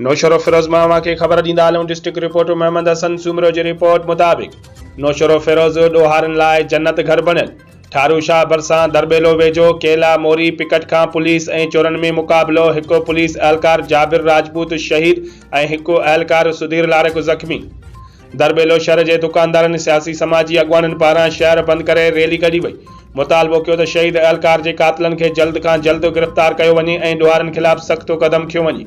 نوشهروفيروز مان اوهان کي خبر ڏيندا هلون ڊسٽرڪٽ رپورٽر محمد حسن سومرو جي رپورٽ مطابق نوشهروفيروز ڏوهارين لاء جنت گهر بڻيل ٺارو شاهه ڀرسان درٻيلو ويجهو ڪيلا موري پڪٽ کان پوليس ۽ چورن ۾ مقابلو هڪ پوليس اهلڪار جابر راجپوت شهيد ۽ هڪ اهلڪار سڌير لارڪ زخمي درٻيلو شھر جي دڪاندارن، سياسي سماجي اڳواڻن پاران شھر بند ڪري ريلي ڪڍي وئي، مطالبو ڪيو ته شھيد اھلڪار جي قاتلن کي جلد کان جلد گرفتار ڪيو وڃي ۽ ڏوھارين خلاف سخت قدم کنيو وڃي،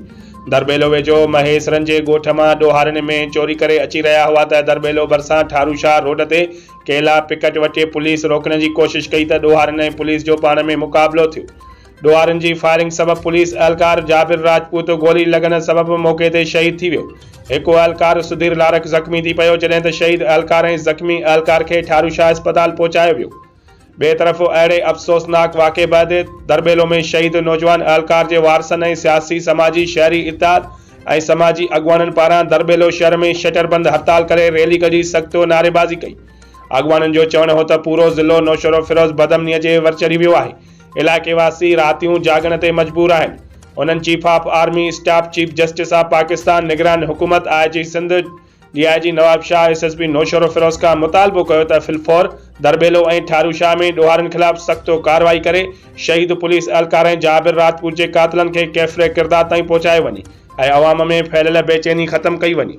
درٻيلو ويجھو مھيسرن جي ڳوٺ مان ڏوھارين مينھن چوري ڪري اچي رھيا ھئا ته درٻيلو ڀرسان ٺارو شاھ روڊ تي ڪيلا پڪٽ وٽي پوليس روڪڻ جي ڪوشش ڪئي ته ڏوھارين ۽ پوليس جو پاڻ ۾ مقابلو ٿيو ڏوهارين جي فائرنگ سبب پوليس اهلڪار جابر راجپوت گولي لڳڻ سبب موقعي تي شهيد ٿي ويو. هڪ اهلڪار سڌير لارڪ زخمي ٿي پيو جڏهن ته شهيد اهلڪار ۽ زخمي اهلڪار کي ٺارو شاهه اسپتال پهچايو ويو. ٻئي طرف اهڙي افسوسناڪ واقعي بعد درٻيلو ۾ شهيد نوجوان اهلڪار جي وارثن ۽ سياسي سماجي شهري اتحاد ۽ سماجي اڳواڻن پاران درٻيلو شهر ۾ شٽر بند هڙتال ڪري ريلي ڪڍي سخت نعريبازي ڪئي. اڳواڻن جو چوڻ هو ته پورو ضلعو نوشهروفيروز بدامنيء جي ور چڙهي ويو آهي علائقي واسي راتيون جاڳڻ تي مجبور آهن، انهن chief of army staff, chief justice of Pakistan, نگران حڪومت، I G Sindh, D I G Nawabshah, S S P Naushahro Feroze کان مطالبو ڪيو ته في الفور درٻيلو ۽ ٺاروشاهه ۾ ڏوهارين خلاف سخت ڪارروائي ڪري شهيد پوليس اهلڪار ۽ جابر راجپوت جي قاتلن کي ڪيفر ڪردار تائين پهچايو وڃي ۽ عوام ۾ ڦهليل بيچيني ختم ڪئي وڃي.